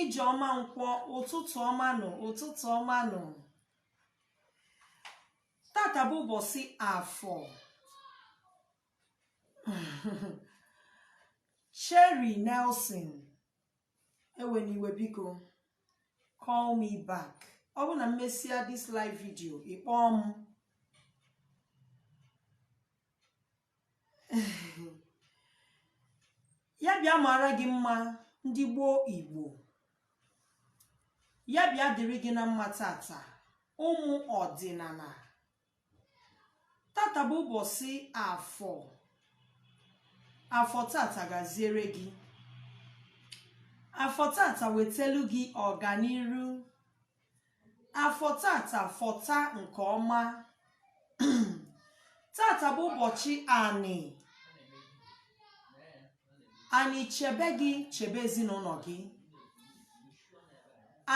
Ijeọma Nkwọ ụtụtụ ọma nụ ụtụtụ ọma nụ tata bụ ụbọsị afọ Cherry Nelson ewena iwe biko call me back ọ bụ na m mesịa this live video ị kpọọ m ya bịa mara gị mma ndị gboo igbo ya bịa dịrị gị na mma tata ụmụ ọdịnana tata bụ ụbọsị afọ afọ tata gaziere gị afọ tata wetelu gị ọganiru afọ tata fọta nke ọma tata bụ ụbọchị anị anị chebe gị chebe ezinụnọ gị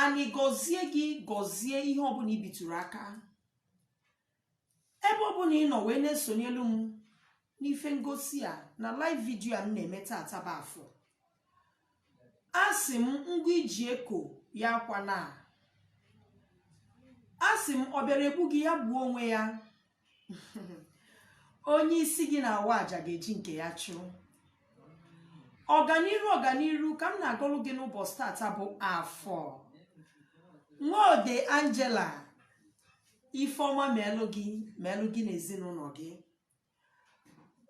anị gọzie gị gọzie ihe ọbụna i bitụrụ aka ebe ọ bụna ị nọ wee na-esonyelu m n'ife ngosi a na live video a m na-eme tata bụ afọ asị m ngu i ji eko ya akwana asị m ọ bịara egbu gị ya gbuo onwe ya onye isi gị na-awa aja ga-eji nke ya chụọ ọganiru ọganiru ka m na-agọrụ gị n'ụbọsị tata bụ afọ nwaode angela ife ọma meelụ gị meelụ gị na ezinụnọ gị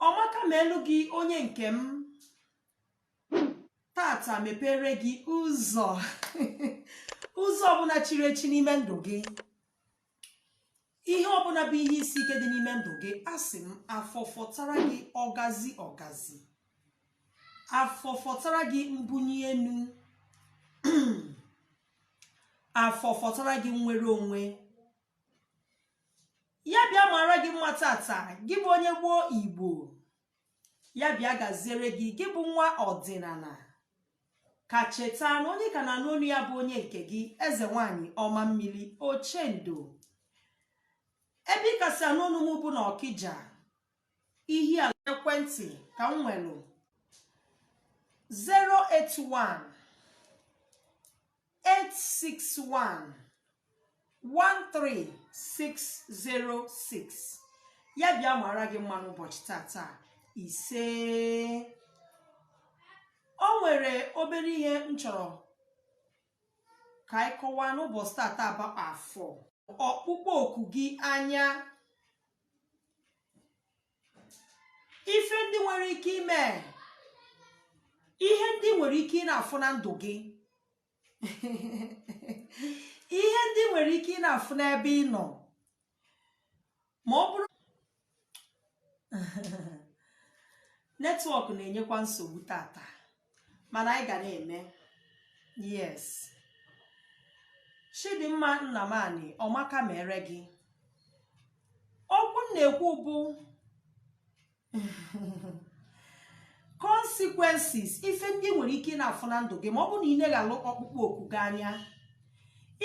ọmaka meelụ gị onye nke m tata mepere gị ụzọ ụzọ ọbụna chiri echi n'ime ndụ gị ihe ọbụna bụ ihe isi ike dị n'ime ndụ gị asị m afọ fọtara gị ọgazi ọgazi afọ fọtara gị mbunye enu afọ fọtara gị nnwere onwe ya bịa mara gị mma tata gị bụ onye gboo igbo ya bịa gaziere gị gị bụ nwa ọdịnana ka cheta na onye ka na-anụ onu ya bụ onye nke gị eze nwanyị ọma mmiri ochendo ebe ị ka si anụ onu m bụ na Ọkịja ihe a ekwentị ka m nwere 081 861 13606 ya bịa mara gị mma n'ụbọchị tata isee o nwere obere ihe m chọrọ ka anyị kọwaa n'ụbọsị tata bụ afọ ọkpụkpọ oku gị anya ife ndị nwere ike ime ihe ndị nwere ike ị na-afụ na ndụ gị ihe ndị nwere ike ị na-afụ n'ebe ị nọ ma ọ bụrụ network na-enyekwa nsogbu tata mana anyị ga na-eme yes chidimma nnamani ọmaka mere gị okwu m na-ekwu bụ consequences ife ndị nwere ike ị na-afụ na ndụ gị ma ọ bụ na ị neghalụ ọkpụkpọ oku gị anya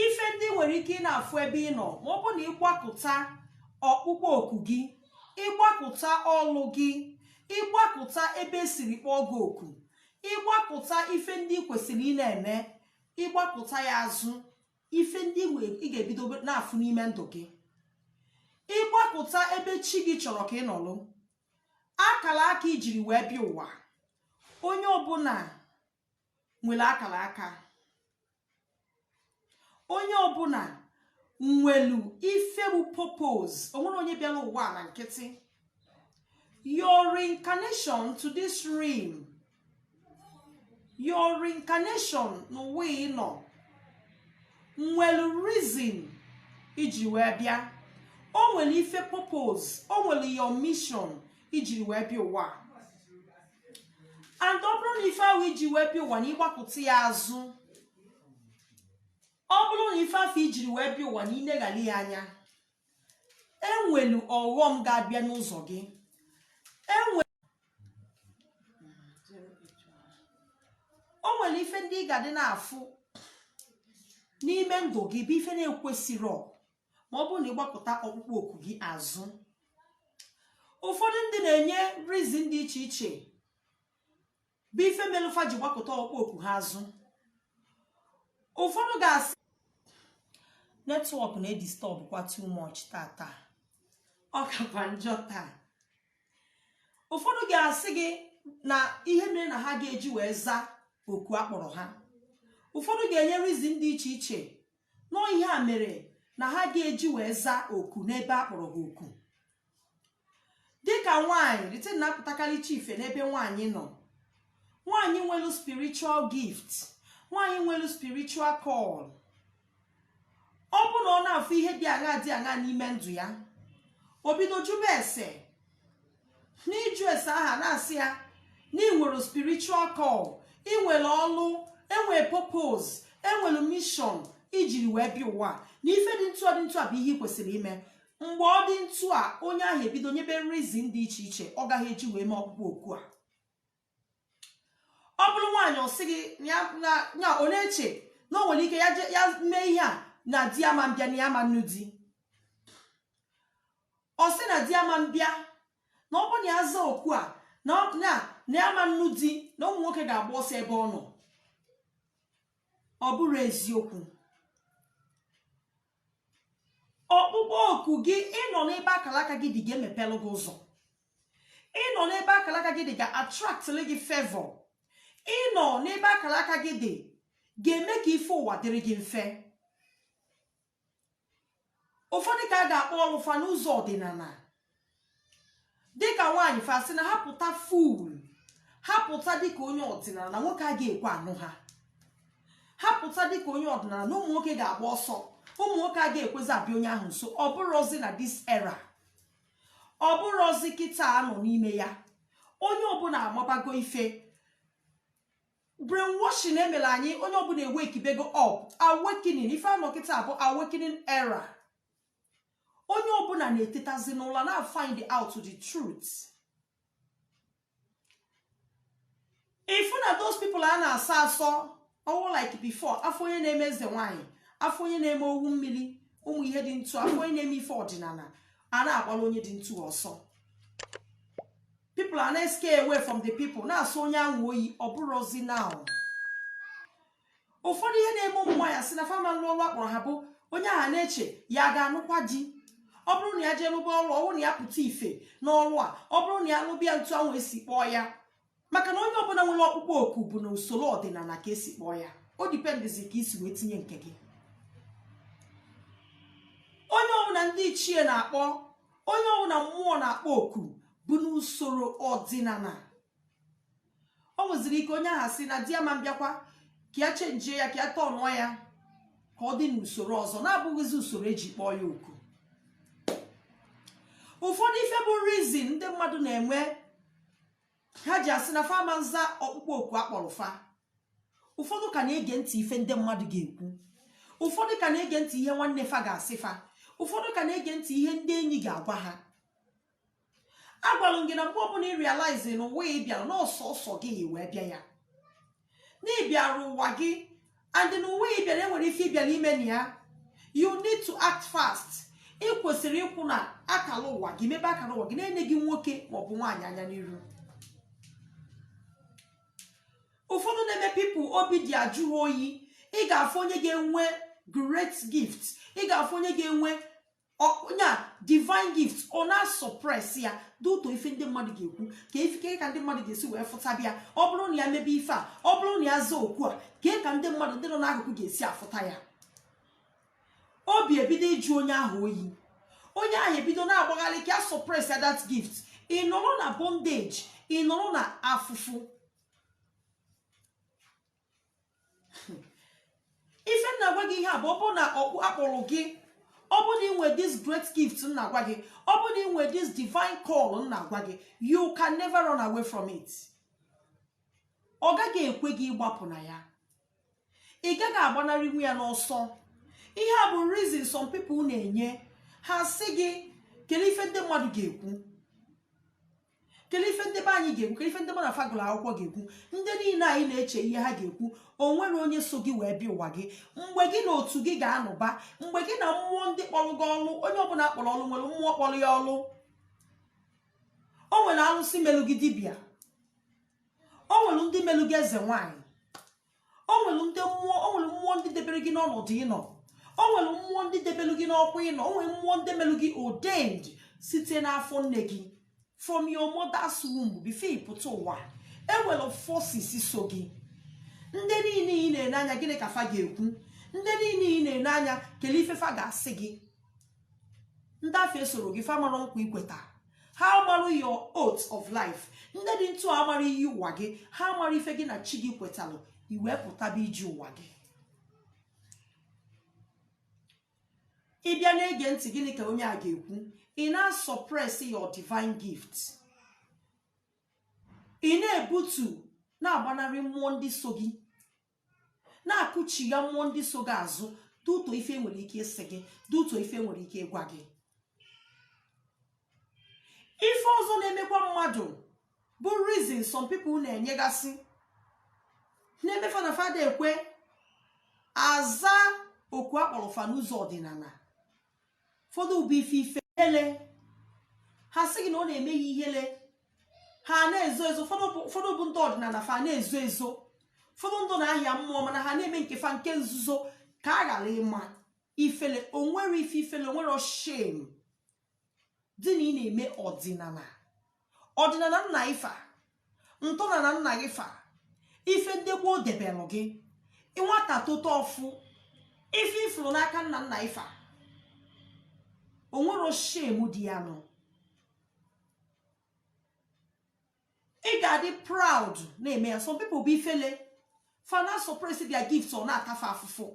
ife ndị nwere ike ị na-afụ ebe ị nọ ma ọ bụ na ịgbakụta ọkpụkpọ oku gị ịgbakụta ọlụ gị ịgbakụta ebe e siri kpọọ gị oku ịgbakụta ife ndị ị kwesịrị ị na-eme ịgbakụta ya azụ ife ndị i wee- ị ga-ebido na-afụ n'ime ndụ gị ịgbakụta ebe chi gị chọrọ ka ị nọlụ akala aka i jiri wee bịa ụwa onye ọbụla nwere akala aka onye ọbụla nwelu ife bụ purpose o nwere onye bịara ụwa na nkịtị your reincarnation to this realm your reincarnation n'ụwa ị nọ nwelu reason i ji wee bịa o nwere ife purpose o nwere your mission i jiri wee bịa ụwa and ọ bụrụ na ife ahụ i ji wee bịa ụwa na ịgbakụta ya azụ ọ bụrụ na ife afụ i jiri wee bịa ụwa na i leghara ya anya e nwelu ọghọm ga-abịa n'ụzọ gị enwe o nwere ife ndị ị ga-adị na-afụ n'ime ndụ gị bụ ife na-ekwesịrọ ma ọ bụrụ na ịgbakụta ọkpụkpọ oku gị azụ ụfọdụ ndị na-enye reason dị iche iche bụ ife melụ fa ji gbakụta ọkpụkpọ oku ha azụ ụfọdụ ga-asị network na-edisturb kwa too much tata ọ kakwa njọ taa ụfọdụ ga-asị gị na ihe mere na ha ga-eji wee zaa oku a kpọrọ ha ụfọdụ ga-enye reason dị iche iche na ọọ ihe a mere na ha ga-eji wee zaa oku n'ebe a kpọrọ ha oku dịka nwaanyị the thing na-apụtakarịcha ife n'ebe nwaanyị nọ nwaanyị nwelu spiritual gift nwaanyị nwelu spiritual call ọ bụ na ọ na-afụ ihe dị aṅa dị aṅa n'ime ndụ ya o bido jụba ese n'ịjụ ese ahụ a na-asị ya na ị nwere spiritual call ị nwere ọlụ enwere purpose enwere mission i jiri wee bịa ụwa na ife dị ntụ a dị ntụ a bụ ihe ị kwesịrị ime mgbe ọ dị ntụ a onye ahụ ebido nyebe reason dị iche iche ọ gaghị eji wee mee ọkpụkpọ oku a ọ bụrụ nwaanyị ọ sị gị ya na- ya ọ na-eche na o nwere ike ya je- ya mee ihe a na di ya ma mbịa na ya ma nnụ di ọ sị na di ya ma mbịa na ọ bụrụ na ya zaa oku a na ọ- na na ya ma nnụ di na ụmụ nwoke ga-agba ọsọ ebe ọ nọ ọ bụrọ eziokwu ọkpụkpọ oku gị ịnọ n'ebe akara aka gị dị ga-emepelụ gị ụzọ ịnọ n'ebe akara aka gị dị ga-attractịrị gị favour ịnọ n'ebe akara aka gị dị ga-eme ka ife ụwa dịrị gị mfe ụfọdụ ka a ga-akpọ ọlụ fa n'ụzọ ọdịnala dịka nwaanyị fa sị na ha pụta full ha pụta dịka onye ọdịnala na nwoke a ga-ekwe anụ ha ha pụta dịka onye ọdịnala na ụmụ nwoke ga-agba ọsọ ụmụ nwoke a ga-ekwezi abịa onye ahụ nso ọ bụrọzi na this era ọ bụrọzi kịta a nọ n'ime ya onye ọbụla amabago ife brainwashing emere anyị onye ọbụla ewekibego up awakening ife a nọ kịta bụ awakening era onye ọbụla na-etetazi n'ụla na-afind out the truth ị fụ na those people a na-asọ asọ ọ wụ like before a fụ onye na-eme eze nwanyị a fụ onye na-eme owu mmiri ụmụ ihe dị ntu a a fụ onye na-eme ife ọdịnala a na-agbara onye dị ntu ọsọ people a na-escare away from the people na-asọ onye ahụ oyi ọ bụrọzi now ụfọdụ ihe na-eme ụmụ nwaanyị asị na fa ma nlụ ọrụ a kpọrọ ha bụ onye ahụ na-eche ya ga-anụkwa di ọ bụrụ na ya jee lụba ọrụ ọ bụrụ na ya pụta ife n'ọrụ a ọ bụrụ na ya lụba ya ntu ahụ esi kpọọ ya maka na onye ọbụla nwere ọkpụkpọ oku bụ na usoro ọdịnala ka esi kpọọ ya ọ dependịzi ka i si wee tinye nke gị onye ọbụla ndị ichie na-akpọ onye ọbụla mmụọ na-akpọ oku bụ n'usoro ọdịnala o nweziri ike onye ahụ asị na di ya ma mbịakwa ka ya chenjie ya ka ya tọnụọ ya ka ọ dị n'usoro ọzọ na-abụghịzi usoro eji kpọọ ya oku ụfọdụ ife bụ reason ndị mmadụ na-enwe ha ji asị na fa ma nza ọkpụkpọ oku a kpọrọ fa ụfọdụ ka na-ege ntị ife ndị mmadụ ga-ekwu ụfọdụ ka na-ege ntị ihe nwanne fa ga-asị fa ụfọdụ ka na-ege ntị ihe ndị enyi ga-agwa ha agwalụ m gị na mgbe ọbụla ị realize na ụwa ị bịara na ọ sọsọ gị wee bịa ya na ị bịara ụwa gị and na ụwa ị bịara enwere ife ị bịara ime na ya you need to act fast ị kwesịrị ịkwụ na akala ụwa gị mebe akala ụwa gị na-eneghị nwoke maọbụ nwaanyị anya n'iru ụfọdụ na-eme people obi dị ajụ ha oyi ị ga-afụ onye ga-enwe great gift ị ga-afụ onye ga-enwe onye a divine gift ọ na-asuppress ya due to ife ndị mmadụ ga-ekwu kee ife kee ka ndị mmadụ ga-esi wee fụtaba ya ọ bụrụ na ya mebe ife a ọ bụrụ na ya zaa oku a kee ka ndị mmadụ ndị nọ n'akụkụ ga-esi afụta ya obi ebido ịjụ onye ahụ oyi onye ahụ ebido na-agbagharị ka ya suppress ya that gift ị nọrọ na bondage ị nọrọ na afụfụ ife m na-agwa gị ihe a bụ ọ bụrụ na oku a kpọrọ gị ọ bụrụ na ị nwere this great gift m na-agwa gị ọ bụrụ na ị nwere this divine call m na-agwa gị you can never run away from it ọ gaghị ekwe gị ịgbapụ na ya ị gaghị agbanarịnwu ya n'ọsọ ihe a bụ reason some people na-enye ha sị gị kelee ife ndị mmadụ ga-ekwu kelee ife ndị be anyị ga-ekwu kelee ife ndị mụ na fa gụlụ akwụkwọ ga-ekwu ndị niile anyị na-eche ihe ha ga-ekwu o nwere onye so gị wee bịa ụwa gị mgbe gị na otu gị ga-anụba mgbe gị na mmụọ ndị kpọrọ gị ọlụ onye ọbụla a kpọrọ ọlụ nwere mmụọ kpọrọ ya ọlụ o nwere alụsị melụ gị dibịa o nwere ndị melụ gị eze nwaanyị o nwere ndị mmụọ o nwere mmụọ ndị debere gị n'ọnọdụ ị nọ o nwere mmụọ ndị debere gị n'ọkwa ị nọ o nwere mmụọ ndị mere gị ordained site n'afọ nne gị from your mother's womb before ị pụta ụwa e nwere forces so gị ndị niile ị na-ene anya gịnị ka fa ga-ekwu ndị niile ị na-ene anya kelee ife fa ga-asị gị ndị afụ esoro gị fa mara nkwa i kweta ha amarụ your oath of life ndị dị etu a mara iyi ụwa gị ha amara ife gị na chi gị kwetalụ i wee pụtaba ije ụwa gị ị bịa na-ege ntị gịnị ka onye a ga-ekwu ị na-asuppress your divine gift ị na-ebutu na-agbanarị mmụọ ndị so gị na-akụchigha mmụọ ndị so gị azụ due to ife e nwere ike ịsị gị due to ife e nwere ike ịgwa gị ife ọzọ na-emekwa mmadụ bụ reason some people na-enyegasị na-eme fa na fa ada ekwe aza oku a kpọrọ fa n'ụzọ ọdịnala ụfọdụ bụ ife ifele ha sị gị na ọ na-eme ha ihele ha na-ezo ezo ụfọdụ bụ- ụfọdụ bụ ndị ọdịnala fa na-ezo ezo ụfọdụ ndị na-ahịa mmụọ mana ha na-eme nke fa nke nzuzo ka a ghara ịma ifele o nwere ife ifele o nwere shame dị na ị na-eme ọdịnala ọdịnala nna ifa ntọnala nna gị fa ife ndị gboo debelụ gị nwata tota ọfụ ife ị fụrụ n'aka nna nna ifa onwero shame dị ya nụ ị ga-adị proud na-eme ya some people bụ ifele fa na suppress their gifts ọ na-ata fa afụfụ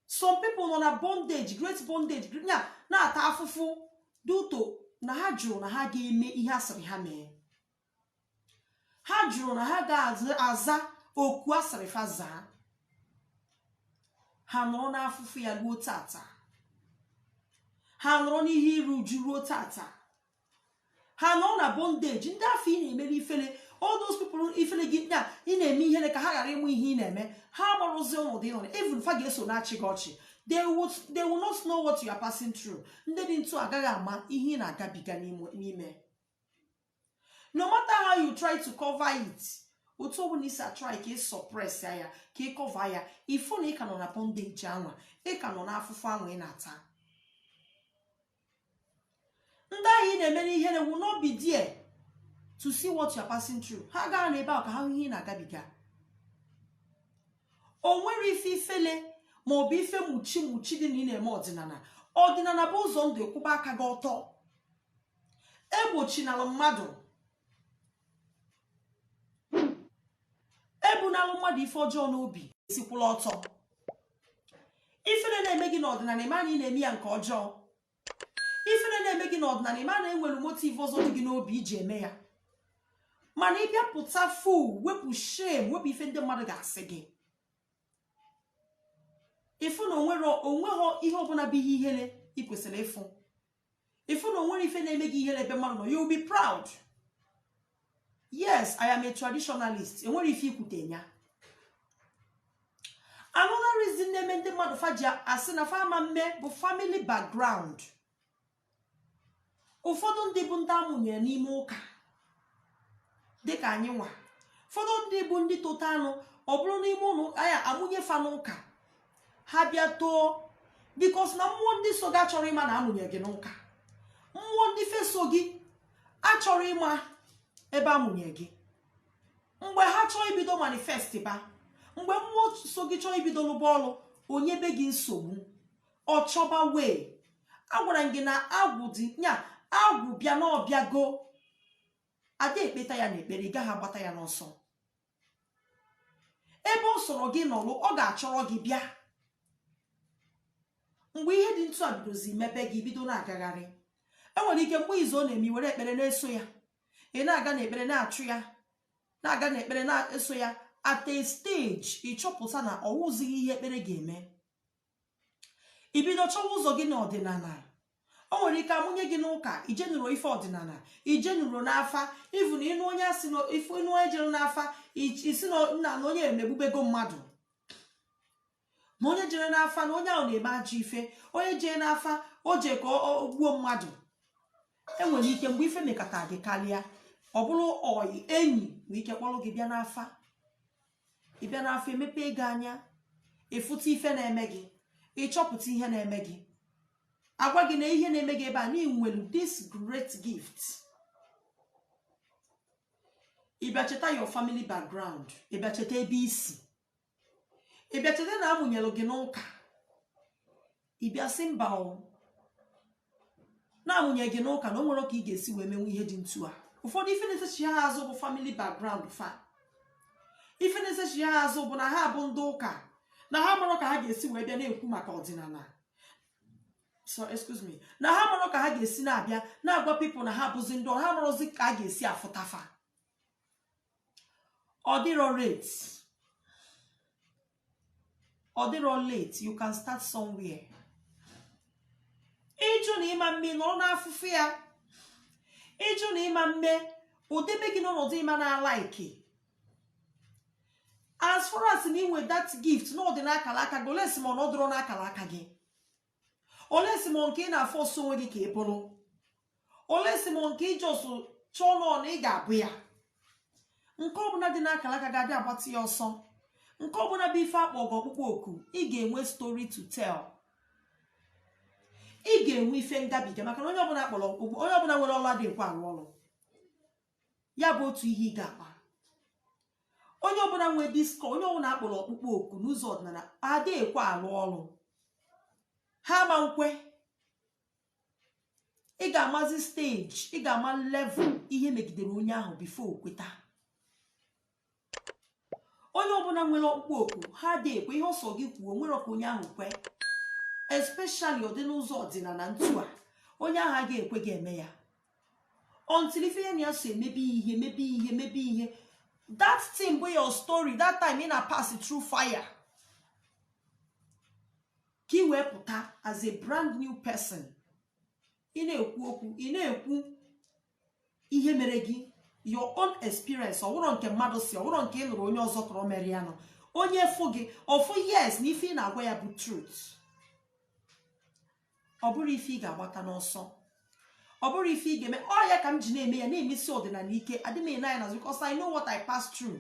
some people nọ na bondage great bondage na-ata afụfụ due to na ha jụrụ na ha ga-eme ihe asịrị ha mee ha jụrụ na ha ga-aza oku asịrị fa zaa ha nọrọ n'afụfụ ya ruo tata ha nọrọ n'ihe iru uju ruo tata ha nọ na bondage ndị afụ ị na-emere ifele all those people ifele gị na ị na-eme ihere ka ha ghara ịma ihe ị na-eme ha marụzi ọnọdụ ị nọ na even fa ga-eso na-achị gị ọchị they will not know what you are passing through ndị dị ntu agaghị ama ihe ị na-agabiga n'ime n'ime no matter how you try to cover it otu ọbụla ị si try ka ị suppress ya ka ị cover ya ị fụ na ị ka nọ na bondage anwa ị ka nọ n'afụfụ anwa ị na-ata ndị ahụ ị na-emere ihere will not be there to see what you are passing through ha agaghị anọ ebe ahụ ka ha hụ ihe ị na-agabiga o nwero ife ifele ma ọ bụ ife mụchi mụchi dị na ị na-eme ọdịnala ọdịnala bụ ụzọ ndụ kwụba aka gị ọtọ egbochinala mmadụ ebunalụ mmadụ ife ọjọọ n'obi esikwụla ọtọ ifele na-eme gị n'ọdịnala ị ma na ị na-eme ya nke ọjọọ ifele na-eme gị n'ọdịnala ị ma na enwere motive ọzọ dị gị n'obi iji eme ya mana ị bịa pụta full wepụ shame wepụ ife ndị mmadụ ga-asị gị ị fụ na onweghị ihe ọbụla bụ ihe ihere ị kwesịrị ịfụ ị fụ na onwero ife na-eme gị ihere ebe mmadụ nọ you will be proud yes i am a traditionalist enwere ife ikwute ya another reason na-eme ndị mmadụ fa ji asị na fa ama mme bụ family background ụfọdụ ndị bụ ndị amụnyere n'ime ụka dịka anyị nwa ụfọdụ ndị bụ ndị tota nụ ọ bụrụ n'ime ụlọ ụka ya amụnye fa n'ụka ha bịa too because na mmụọ ndị so gị achọrọ ịma na amụnye gị n'ụka mmụọ ndị ife so gị achọrọ ịma ebe amụnye gị mgbe ha chọọ ibido manifest ba mgbe mmụọ so gị chọọ ibido lụba ọrụ o nyebe gị nsogbu ọ chọba wee agwara m gị na agwụ dị nya agwụ bịa na ọ bịago ada ekpeta ya n'ekpere ị gaghị agbata ya n'ọsọ ebe ọ sọrọ gị nọlụ ọ ga-achọrọ gị bịa mgbe ihe dị ntụ a bidozi mebe gị ị bido na-agagharị e nwere ike mgbe izu ọ na-eme were ekpere na-eso ya ị na-aga n'ekpere na-achụ ya na-aga n'ekpere na-eso ya at a stage ị chọpụta na ọ wụzighị ihe ekpere ga-eme i bido chọwa ụzọ gị n'ọdịnala o nwere ike a mụnye gị n'ụka i jenurọ ife ọdịnala i jenurọ n'afa even na ị nụ onye asị ife ị nụ onye jere n'afa ị sị na na na onye emegbubego mmadụ ma onye jere n'afa na onye ahụ na-eme ajọ ife onye jee n'afa o jee ka o gbuo mmadụ e nwere ike mgbe ife mekata gị karịa ọ bụrụ ọyị enyi nwere ike kpọrọ gị bịa n'afa ị bịa n'afa e mepee gị anya ị fụta ife na-eme gị ị chọpụta ihe na-eme gị a gwa gị na ihe na-eme gị ebe a na i nwelu this great gift ị bịa cheta your family background ị bịa cheta ebe i si ị bịa cheta na a mụnyelụ gị n'ụka ị bịa sị mba o na a mụnye gị n'ụka na o nwerọ ka ị ga-esi wee mewe ihe dị ntu a ụfọdụ ife na-esechi ha azụ bụ family background fa ife na-esechi ha azụ bụ na ha bụ ndị ụka na ha marọ ka ha ga-esi wee bịa na-ekwu maka ọdịnala so excuse me na ha marọ ka ha ga-esi na-abịa na-agwa people na ha bụzi ndị ọrụ ha marọzi ka a ga-esi afụta fa ọ dịrọ late ọ dịrọ late you can start somewhere ị jụ na ị ma mme nọrọ n'afụfụ ya ị jụ na ị ma mme o debe gị n'ọnọdụ ị ma na-alike as far as na i nwe that gift na ọ dị n'akala aka gị unless ma ọ na ọ dịrọ n'akala aka gị unless ma nke ị na-aforce onwe gị ka ị bụrụ unless ma nke ị just chọọ nnọọ na ị ga-abụ ya nke ọbụla dị n'akara aka gị adị agbata ya ọsọ nke ọbụla bụ ife a kpọ gị ọkpụkpọ oku ị ga-enwe story to tell ị ga-enwe ife ngabiga maka na onye ọbụla a kpọrọ ọkpụkpọ onye ọbụla nwere ọla adị ekwe arụ ọrụ ya bụ otu ihe ị ga-akpa onye ọbụla nwee this call onye ọbụla a kpọrọ ọkpụkpọ oku n'ụzọ ọdịnala ada ekwe alụ ọrụ ha ma nkwe ị ga-amazi stage ị ga-ama level ihe megidere onye ahụ before o kweta onye ọbụla nwere ọkpụkpọ oku ha adị ekwe ihe ọ sọ gị kwuo nwerọ ka onye ahụ kwe especially ọ dị n'ụzọ ọdịnala ntu a onye ahụ agaghị ekwe ga-eme ya until ife ya na ya so emebe ihe mebe ihe mebe ihe that thing bụ your story that time ị na pass through fire ka ị wee pụta as a brand new person ị na-ekwu okwu ị na-ekwu ihe mere gị your own experience ọ wụrọ nke mmadụ sị ọ wụrọ nke ị nụrụ onye ọzọ kọrọ mere ya no onye fụ gị ọ fụ yes na ife ị na-agwa ya bụ truth ọ bụrọ ife ị ga-agbata n'ọsọ ọ bụrụ ife ị ga-eme ọ ya ka m ji na-eme ya na-emesi ọdịnala ike adị m ene anya n'azụ because I know what I pass through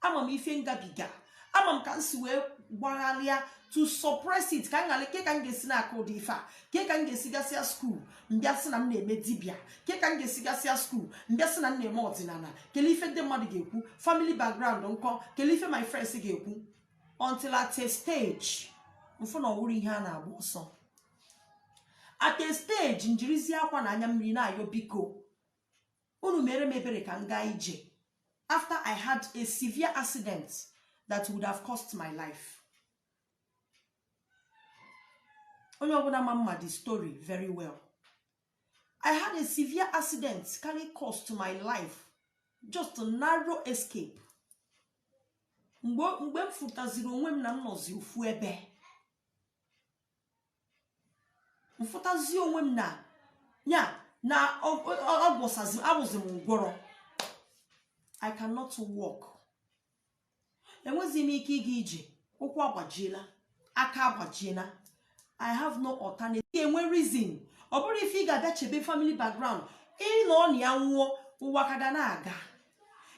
ama m ife m gabiga ama m ka m si wee gbagharịa to suppress it ka m ghara ke ka m ga-esi na-aka ụdị ife a ke ka m ga-esi gasịa school m bịa sị na m na-eme dibịa ke ka m ga-esi gasịa school m bịa sị na m na-eme ọdịnala kele ife ndị mmadụ ga-ekwu family background nkọ kele ife my friends ga-ekwu until at a stage m fụ na ọ wụrọ ihe a na-agba ọsọ at a stage m jirizi akwa na anya mmiri na-ayọ biko unu meere m ebere ka m gaa ije after i had a severe accident that would have cost my life onye ọbụla ma m ma the story very well i had a severe accident kaara cost my life just a narrow escape mgbe m fụtaziri onwe m na m nọzi ofu ebe m fụtazi onwe m na ya na abụzi m ngwọrọ i cannot walk enwezi m ike ịga ije ụkwụ agbajiela aka agbajiela i have no alternative m wee reason ọ bụrọ ife ị ga-abịa chebe family background ị nọ na ya nwụọ ụwa ka ga na-aga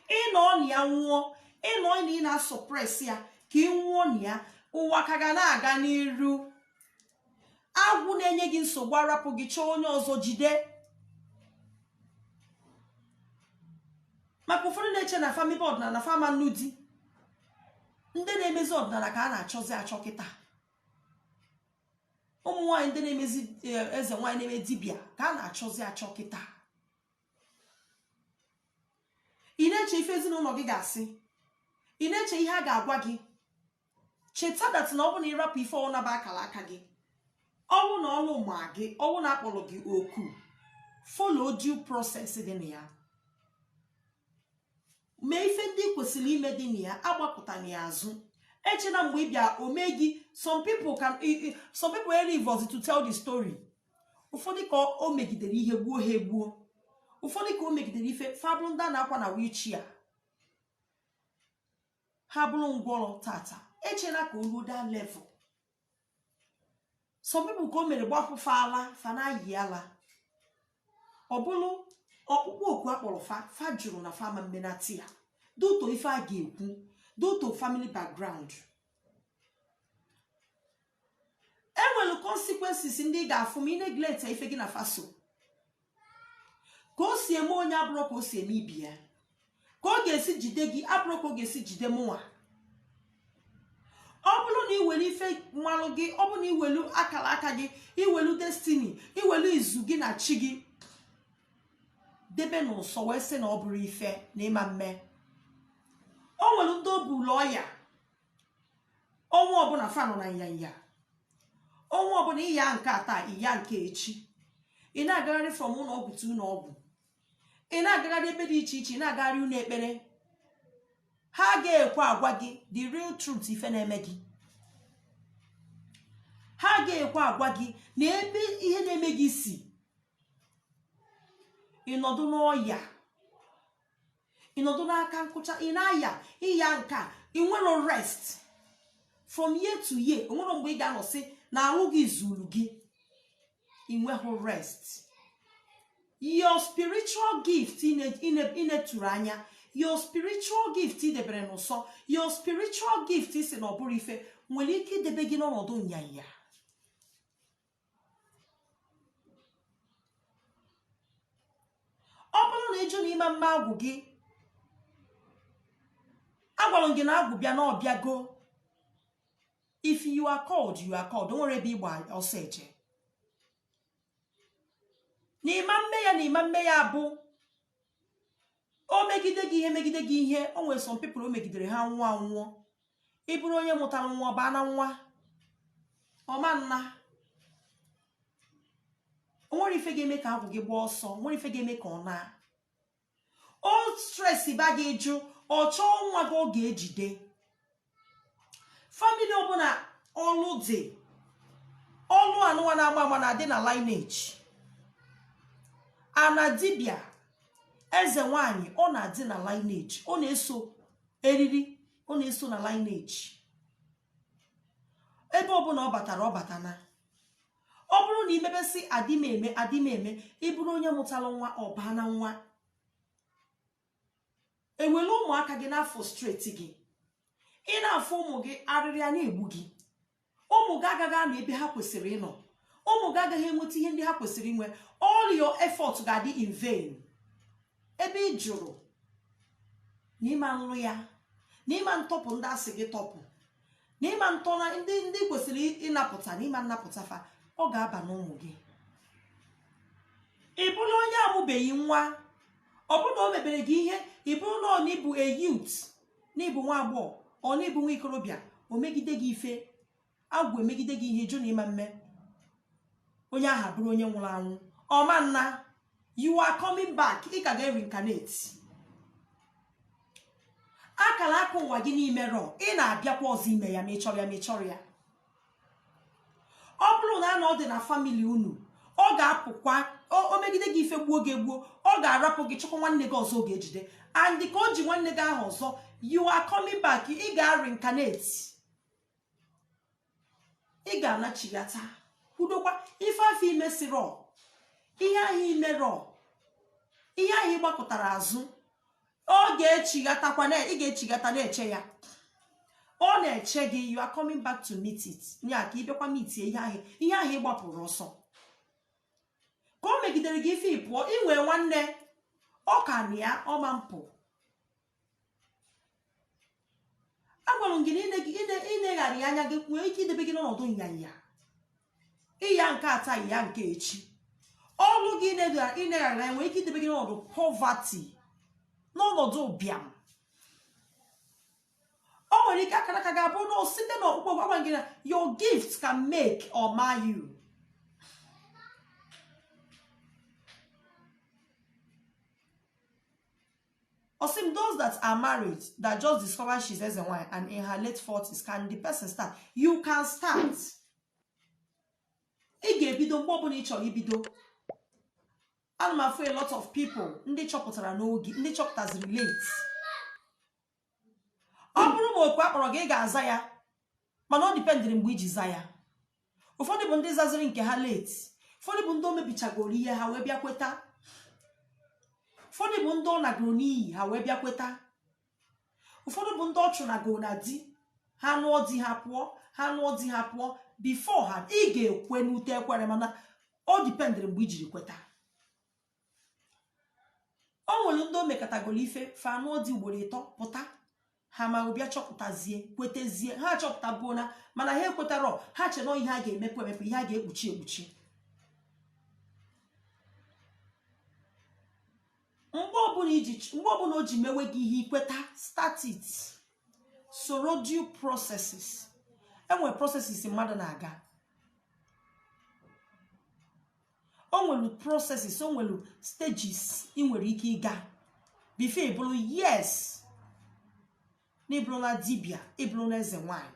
ị nọ na ya nwụọ ị nọ na ị na-asuppress ya ka ị nwụọ na ya ụwa ka ga na-aga n'iru agwụ na-enye gị nsogbu arapụ gị chọọ onye ọzọ jide maka ụfọdụ na-eche na fa mebe ọdịnala na fa ama nụ di ndị na-emezi ọdịnala ka a na-achọzi achọ kịta ụmụ nwaanyị ndị na-emezi eze nwaanyị na-eme dibịa ka a na-achọzi achọ kịta ị na-eche ife ezinụlọ gị ga-asị ị na-eche ihe a ga-agwa gị cheta that na ọ bụ na ị rapụ ife ọ wụ na ọ bụ akara aka gị ọ wụ na ọlụ ma gị ọ wụ na a kpọrọ gị oku follow due process dị na ya mee ife ndị ị kwesịrị ime dị na ya agbakụtana ya azụ echena mgbe ị bịa o mee gị some people can some people are alive to tell the story ụfọdụ ka o megidere ihe gbuo ha egbuo ụfọdụ ka o megidere ife fa bụrụ ndị a na-akwa na wheelchair ha bụrụ ngwọrọ tata echena ka o ruo that level some people ka o mere gbapụ fa ala fa na-ayi ala ọ bụrụ ọkpụkpọ oku a kpọrọ fa fa jụrụ na fa ma mmenati ya due to ife a ga-ekwu due to family background e nwere consequences ndị ị ga-afụ ma ị neglect ife gị na fa so ka o si eme onye abụrọ ka o si eme ibe ya ka ọ ga-esi jide gị abụrọ ka ọ ga-esi jide mụnwa ọ bụrụ na i welu ife malụ gị ọ bụrụ na i welu akara aka gị i welu destiny i welu izu gị na chi gị debe n'ụsọ wee sị na ọ bụrọ ife na ị ma mme o nwere ndị ọ bụlụ ọya ọnwa ọbụla fa nọ na nyanya ọnwa ọbụla ị ya nke a taa ị ya nke echi ị na-agagharị from ụlọ ọgwụ to ụlọ ọgwụ ị na-agagharị ebe dị iche iche ị na-agagharị ụlọ ekpere ha ga-ekwe agwa gị the real truth ife na-eme gị ha ga-ekwe agwa gị na ebe ihe na-eme gị si ị nọdụ n'ọya ị nọdụ n'aka nkụcha ị na-aya ịya nke a i nwerọ rest from year to year o nwerọ mgbe ị ga-anọ sị na arụ gị zuru gị ị nweghị rest your spiritual gift i neturu anya your spiritual gift ị debere n'ụsọ your spiritual gift ị sị na ọ bụrọ ife nwere ike idebe gị n'ọnọdụ nyanya ọ bụrụ na ị jụ na ị ma mme agwụ gị agwara m gị na agwụ bịa na ọ bịago if you are called you are called o nwerọ ebe ị gba ọsọ eje na ị ma mme ya na ị ma mme ya bụ o megide gị ihe megide gị ihe o nwere some people o megidere ha nwụọ anwụọ ị bụrụ onye mụtara nwa ọ baa na nwa ọ ma nna o nwerọ ife ga-eme ka agwụ gị gbaa ọsọ o nwerọ ife ga-eme ka ọ naa o stress ba gị ị jụ ọ chọọ nwa gị ọ ga-ejide family ọbụla ọlụ dị ọlụ anụwa na-ama ama na-adị na lineage ana dibịa eze nwanyị ọ na-adị na lineage ọ na-eso eriri ọ na-eso na lineage ebe ọbụla ọ batara ọ batana ọ bụrụ na i mebe sị adị m eme adị m eme ị bụrụ onye mụtara nwa ọ baa na nwa ewere ụmụaka gị na-afrustrate gị ị na-afụ ụmụ gị arịrị a na-egbu gị ụmụ gị agaghị anọ ebe ha kwesịrị ịnọ ụmụ gị agaghị enweta ihe ndị ha kwesịrị inwe all your effort ga-adị in vain ebe ị jụrụ na ịma nrụ ya na ịma ntọpụ ndị asị gị tọpụ na ịma ntọna ndị i kwesịrị ịnapụta na ịma nnapụta fa ọ ga-aba n'ụmụ gị ị bụrụ onye amụbeghị nwa ọ bụrụ na o mebere gị ihe ị bụrụ na ọ na ịbụ a youth na ịbụ nwa agbọghọ or na ịbụ nwa ikorobịa o megide gị ife agwụ emegide gị ihe ị jụ na ịma mme onye ahụ abụrụ onye nwụrụ anwụ ọma nna you are coming back ị ka ga-reincarnate akara aka ụwa gị n'imerọ ị na-abịakwa ọzọ ime ya ma ị chọrọ ya ma ị chọrọ ya ọ bụrụ na na ọ dị na family unu ọ ga-apụkwa o- o megide gị ife gbuo gị egbuo ọ ga-arapụ gị chọkwa nwanne gị ọzọ ọ ga-ejide and ka o ji nwanne gị ahụ ọzọ you are coming back ị ga-reincarnate ị ga-anachighata kwudokwa ife afụ imesirọ ihe ahụ imerọ ihe ahụ ịgbakụtara azụ ọ ga-echighatakwa na ị ga-echighata na-eche ya ọ na-eche gị you are coming back to meet it ya ka ịbịakwa mitie ihe ahụ ihe ahụ ịgbapụrụ ọsọ ka o megidere gị ife ị pụọ inwee nwanne ọ ka na ya ọma mpụ agwara m gị na ịneghara anya gị nwere ike idebe gị n'ọnọdụ nyanya ịya nke taa ịya nke echi ọlụ gị ịneghara anya nwere ike idebe gị n'ọnọdụ poverty n'ọnọdụ ụbịam o nwere ike akara aka ga-abụ na site na ọkpụkpọ gwagwa gị na your gift can make or mar you Ọ sị m those that are married that just discover she's eze nwanyị and in her late 40s can the person start? You can start. Ị ga-ebido mgbe ọbụla ị chọrọ ibido. Ana m afụ a lot of people ndị chọpụtara n'oge ndị chọpụtaziri late. ọ bụrụ ma oku akpọrọ gị ị ga-aza ya mana ọ dipendịrị mgbe iji za ya ụfọdụ bụ ndị zaziri nke ha late ụfọdụ bụ ndị o mebichagoro ihe ha wee bịa kweta ụfọdụ bụ ndị ọ nagoro n'iyi ha wee bịa kweta ụfọdụ bụ ndị ọ chụnagoro na di ha nụọ di ha pụọ ha nụọ di ha pụọ before ha ị ga-ekwe n'ute ekwere mana ọ dipendịrị mgbe i jiri kweta o nwere ndị o mekatagoro ife fa anụọ di ugboro ịtọ pụta ha ma bịa chọpụtazie kwetezie ha chọpụtabuo na mana ha ekwetarọ ha che na ihe a ga-emepe emepe ihe a ga-ekpuchi ekpuchi mgbe ọbụla iji mgbe ọbụla o ji mewe gị ihe i kweta start it soro due processes enwere processes mmadụ na-aga o nwere processes o nwere stages ị nwere ike ịga before ị bụrụ yes na ị bụrụla dibia ị bụrụla eze nwanyị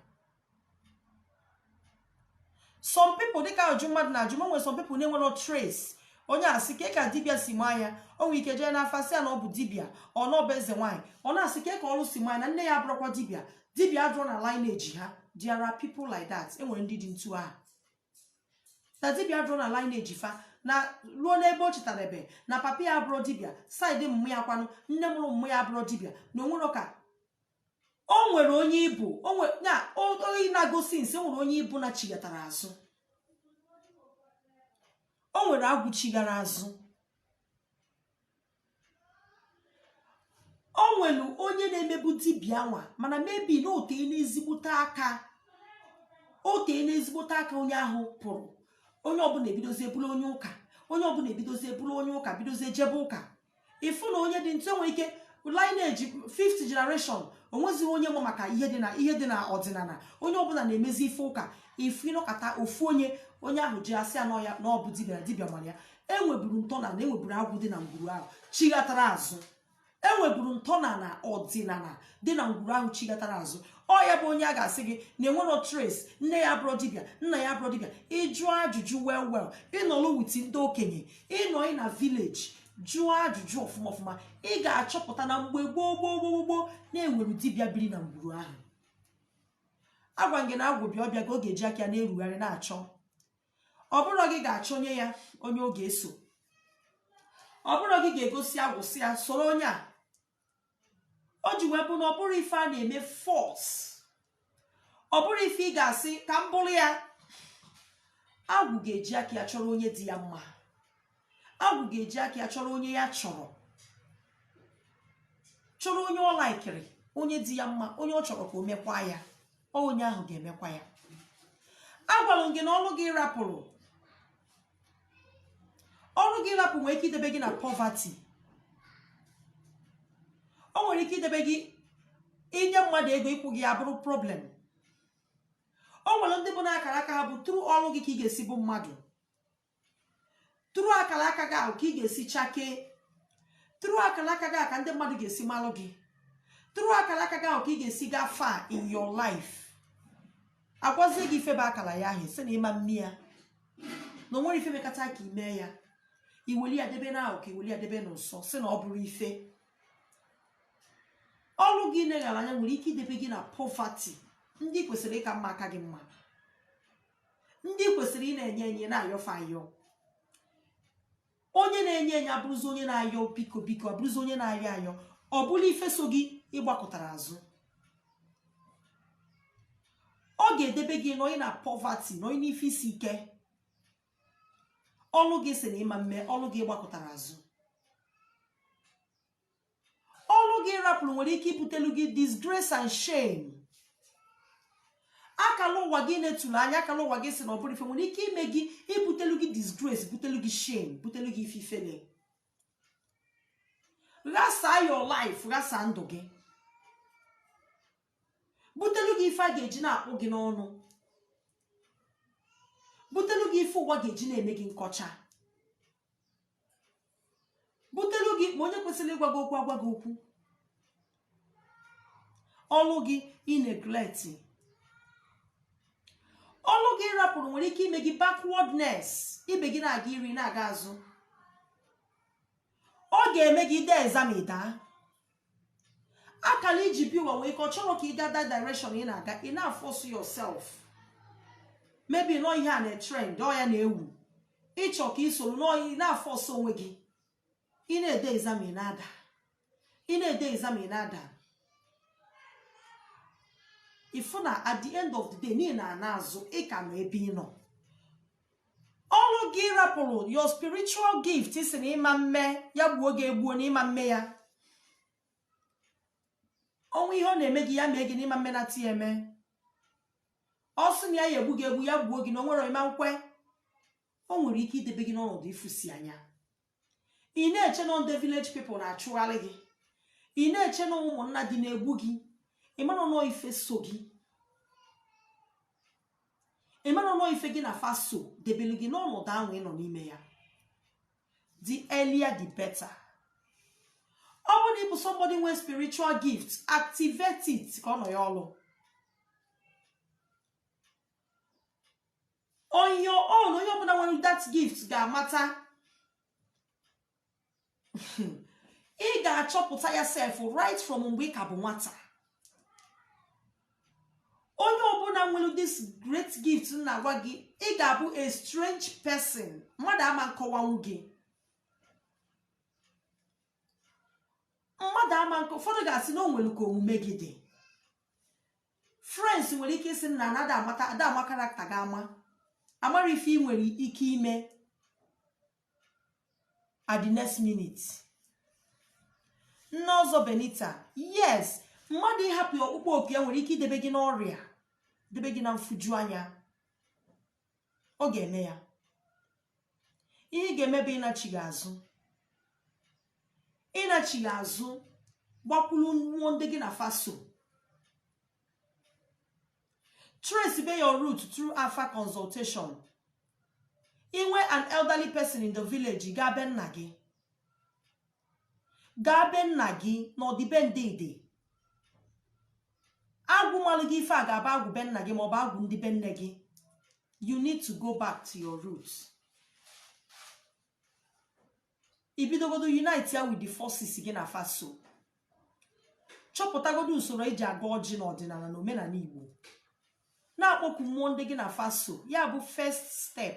some people dịka ajụ mmadụ na-ajụ m enwere some people na enwero trace onye a sị kee ka dibia si maa ya o nwere ike jee n'afa sị ya na ọ bụ dibia or na ọ bụ eze nwaanyị ọ na-asị kee ka ọrụ si maa ya na nne ya abụrọkwa dibia dibia adụrọ na lineage ha there are people like that enwere ndị dị ntu ahụ na dibia adụrọ na lineage fa na ruo n'ebe o chetara ebe na papa ya abụrọ dibia side mma ya kwanụ nne mụrụ mma ya abụrọ dibia na o nwere ka o nwere onye ibu na oyi na-agosi nsi nwere onye ibu na chighatara azụ o nwere agwụ chighara azụ o nwere onye na-emebu dibịa nwa mana maybe na o teena ezigbote aka o teena ezigbote aka onye ahụ pụrụ onye ọbụla ebidozie bụlụ onye ụka onye ọbụla ebidozie bụlụ onye ụka bidozie jebe ụka ị fụ na onye dị ntu enwere ike lineage fifth generation o nwezighị onye ma maka ihe dị na ihe dị na ọdịnala onye ọbụla na-emezi ife ụka ị fụ ị nọkata ofu onye onye ahụ ji asị anọ ya na ọ bụ dibịa dibịa mara ya enweburu ntọala enweburu agwụ dị na ngwuru ahụ chighatara azụ enweburu ntọala ọdịnala dị na ngwuru ahụ chighatara azụ ọ ya bụ onye a ga-asị gị na enwero trace nne ya abụrọ dibịa nna ya abụrọ dibịa ị jụọ ajụjụ well well ị nọlụ with ndị okenye ịnọ ị na village jụọ ajụjụ ọfụma ọfụma ị ga-achọpụta na mgbe gboo gboo gboo gboo na enwere dibịa biri na ngwuru ahụ agwa m gị na agwụ bịa ọbịa ka ọ ga-eji aka ya na-erugharị na-achọ ọ bụrọ gị ga-achọnye ya onye ọ ga-eso ọ bụrọ gị ga-egosi agwụ sị ya soro onye a o ji wee bụ na ọ bụrọ ife a na-eme force ọ bụrọ ife ị ga-asị ka m bụrụ ya agwụ ga-eji aka ya chọrọ onye dị ya mma agwụ ga-eji aka ya chọrọ onye ya chọrọ chọrọ onye ọ laikiri onye dị ya mma onye ọ chọrọ ka o mekwa ya ọ onye ahụ ga-emekwa ya agwalụ m gị na ọrụ ị rapụrụ ọrụ gị ị rapụrụ nwere ike idebe gị na poverty o nwere ike idebe gị i nye mmadụ ego ịkwụ gị abụrụ problem o nwere ndị bụ na akara aka ha bụ through ọrụ gị ka ị ga-esi bụ mmadụ tụrụ akara aka gị ahụ ka ị ga-esi chakee tụrụ akara aka gị ka ndị mmadụ ga-esi malụ gị tụrụ akara aka gị ahụ ka ị ga-esi gaa far in your life agwazie gị ife bụ akara ya ahụ ị sị na ị ma mme ya na o nwere ife mekata ka ị mee ya i weli ya debe na ahụ ka i weli ya debe n'ụsọ sị na ọ bụrọ ife ọrụ gị ị neghara anya nwere ike idebe gị na poverty ndị ị kwesịrị ịka mma aka gị mma ndị kwesịrị ịna-enye enye ị na-ayọ fa ayọ onye na-enye enye abụrụzi onye na-ayọ biko biko abụrụzi onye na-ayọ ayọ ọ bụla ife so gị ị gbakụtara azụ ọ ga-edebe gị nọị na poverty nọị n'ife isi ike ọlụ gị ị sị na ị ma mme ọlụ gị ị gbakụtara azụ ọrụ gị ị rapụrụ nwere ike ibutelu gị disgrace and shame akala ụwa gị ị netulu anya akala ụwa gị ị sị na ọ bụrọ ife nwere ike ime gị ibutelu gị disgrace butelu gị shame butelu gị ife ifele ghasaa your life ghasaa ndụ gị butelu gị ife a ga-eji na-akpụ gị n'ọnụ butelu gị ife ụwa ga-eji na-eme gị nkọcha butelu gị ma onye kwesịrị ịgwa gị okwu agwa gị okwu ọlụ gị ị neglect ọlụ gị ị rapụrụ nwere ike ime gị backwardness ibe gị na-aga iru ị na-aga azụ ọ ga-eme gị ị dee exam daa akara i ji bịa ụwa nwee ike ọ chọrọ ka ị gaa that direction ị na-aga ị na-aforce yourself maybe nọ ihe a na-etrend ọ ya na-ewu ị chọọ ka ị soro n'oyi na-aforce onwe gị ị na-ede exam ị na-ada ị na-ede exam ị na-ada ị fụ na at the end of the day na ị na-ana azụ ị ka nọ ebe ị nọ ọrụ gị ị rapụrụ your spiritual gift ị sị na ị ma mme ya gbuo gị egbuo na ị ma mme ya o nwee ihe ọ na-eme gị ya mee gị na ị ma mme na ti eme ọ sị na ya ya-egbu gị egbu ya gbuo gị na o nwere ị ma nkwe o nwere ike idebe gị n'ọnọdụ ịfụsi anya ị na-eche na ndị village people na-achụgharị gị ị na-eche na ụmụnna gị na-egbu gị ị marọ nọ ife so gị ị marọ nọ ife gị na fa so debelu gị n'ọnọdụ ahụ ị nọ n'ime ya the earlier the better ọ bụrụ na ị bụ somebody nwee spiritual gift activate it ka ọ nọ ya ọlụ on your own onye ọbụna nwelu that gift ga-amata ị ga-achọpụta ya sef right from mgbe ị ka bụ nwata onye ọbụna nwelu this great gift m na-agwa gị ị ga-abụ a strange person mmadụ ama nkọwanwu gị mmadụ ama nkọ ụfọdụ ga-asị na o nwelu ka omume gị dị friends nwere ike ịsị na na ada ada ama character gị ama amarọ ife ị nwere ike ime at the next minute nne ọzọ benita yes mmadụ ịhapụ ọkpụkpọ oku ya nwere ike idebe gị n'ọrịa debe gị na mfuju anya ọ ga-eme ya ihe ị ga-eme bụ ịnachigha azụ ị nachigha azụ gbakwuru mmụọ ndị gị na fa so trace be your root through afa consultation i nwee an elderly person in the village gaa be nna gị gaa be nna gị na ọ dị be ndị dị agwụ malụ gị ife a ga-abụ agwụ be nna gị maọbụ agwụ ndị be nne gị you need to go back to your roots i bidogodo unite ya with the forces gị na fa so chọpụtagodo usoro e ji agọ ọjị n'ọdịnana na omenana igbo na-akpọku mmụọ ndị gị na fa so ya bụ first step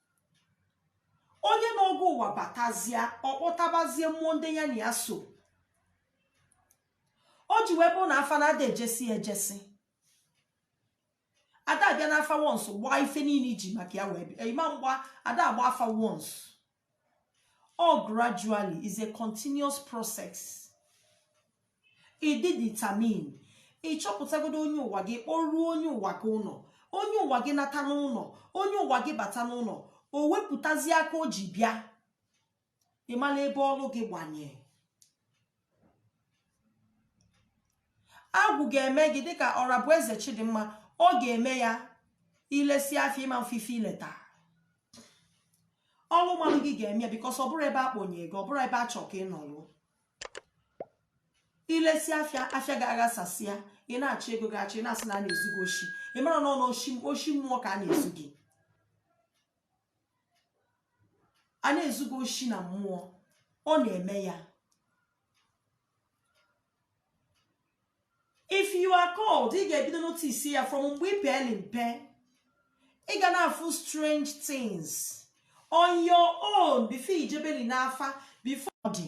onye nọ gị ụwa batazia ọ kpọtabazie mmụọ ndị ya na ya so o ji wee bụ na afa na ada ejesi ejesi ada abịa n'afa once gbaa ife niine i ji maka ya wee bịa ị ma mgba ada agba afa once ọ gradually it's a continuous process ị dị determined ị chọpụtagodo onye ụwa gị kpọruo onye ụwa gị ụnọ onye ụwa gị nata n'ụnọ onye ụwa gị bata n'ụnọ o wepụtazi aka o ji bịa ị malụ ebe ọlụ gị gbanye agwụ ga-eme gị dịka orabueze chidimma ọ ga-eme ya i lesịa afịa ị ma mfụ ife i leta ọlụ malụ gị ga-eme ya because ọ bụrọ ebe a kpọnye gị ọ bụrọ ebe a chọ ka ị nọlụ i lesịa afịa afịa gị aghasasịa ị na-achọ ego gị achọ ị na-asị na a na-ezu gị oshi ị marọ na ọ na oshi mmụọ ka a na-ezu gị a na-ezu gị oshi na mmụọ ọ na-eme ya if you are called ị ga-ebido notice ya from mgbe ị peeli mpe ị ga na-afụ strange things on your own before i jebeli n'afa before ọ dị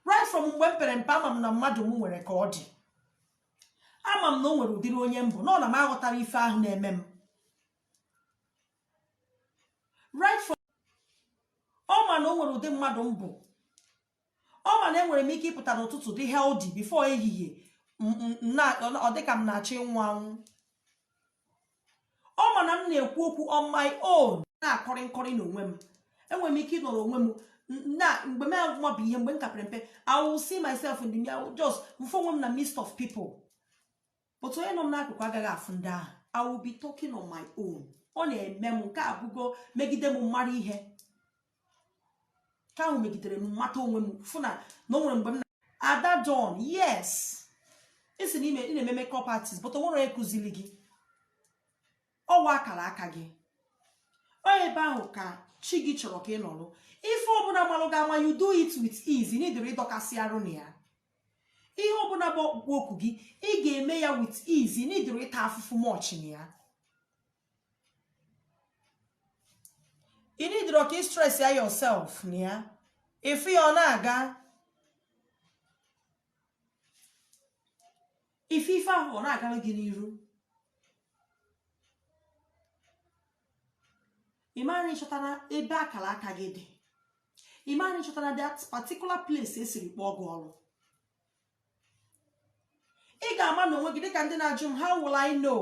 right from mgbe m pere mpe ama m na mmadụ m nwere ka ọ dị ama m na o nwere ụdịrị onye m bụ na ọ na m aghọtara ife ahụ na-eme m right from ọ ma na o nwere ụdị mmadụ m bụ ọ ma na enwere m ike ịpụta n'ụtụtụ dị healthy before ehihie m- m- m na- ọ ọ dịka m na-achọ ịnwụ anwụ ọ ma na m na-ekwu okwu on my own na-akọrị nkọrị n'onwe m enwere m ike ịnọrọ onwe m n- na mgbe m amabụ ihe mgbe m ka pere mpe I will see myself in the mirror I will just m fụ onwe m na midst of people but onye nọ m n'akụkụ agaghị afụ ndị ahụ I will be talking on my own ọ na-eme m nke abụgo megide m mara ihe ka ahụ megidere m mata onwe m fụ na na o nwere mgbe m na-ada down yes ị sị na ị na-eme makeup artist but o nwere onye kụziri gị ọ wụ akara aka gị ọ ebe ahụ ka chi gị chọrọ ka ị nọrọ ife ọbụla gbalụ gị ama you do it with ease ị needrọ ịdọkasị arụ na ya ihe ọbụla bụ ọkpụkpọ oku gị ị ga-eme ya with ease ị needrọ ịta afụfụ much na ya ị needrọ ka ị stress ya yourself na ya ị fụ ya ọ na-aga ị fụ ife ahụ ọ na-agara gị n'iru ị mara ị chọtara ebe akara aka gị dị ị mara ị chọtara that particular place e siri kpọọ gị ọrụ ị ga-ama n'onwe gị dịka ndị na-ajụ m how will I know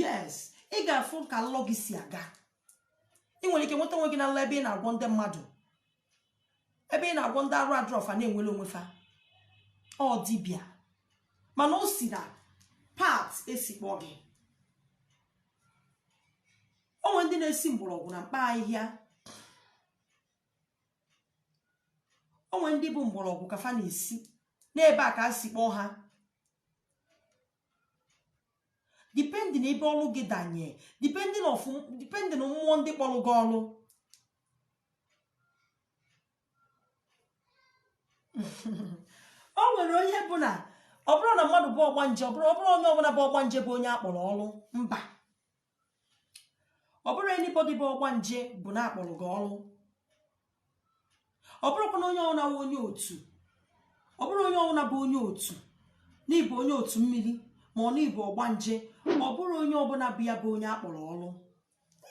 yes ị ga-afụ ka nlọ gị si aga ị nwere ike nweta onwe gị na nlọ ebe ị na-agwọ ndị mmadụ ebe ị na-agwọ ndị arụ adịrọ fa na-enwere onwe fa ọ dibịa mana o si na part e si kpọọ gị o nwe ndị na-esi mgbọrọgwụ na mkpa ahịhịa o nwe ndị bụ mgbọrọgwụ ka fa na-esi n'ebe a ka a si kpọọ ha depending ebe ọrụ gị danye depending of depending na mmụọ ndị kpọrọ gị ọrụ o nwere onye bụ na ọ bụrụ na mmadụ bụ ọgbanje ọ bụrụ ọ bụrụ onye ọbụla bụ ọgbanje bụ onye a kpọrọ ọrụ mba ọ bụrọ anybody bụ ọgbanje bụ na akpọrọ gị ọrụ ọ bụrọkwa na onye ọbụna onye otu ọ bụrọ onye ọbụna bụ onye otu n'ịbụ onye otu mmiri ma ọ n'ịbụ ọgbanje ọ bụrọ onye ọbụla bụ ya bụ onye akpọrọ ọrụ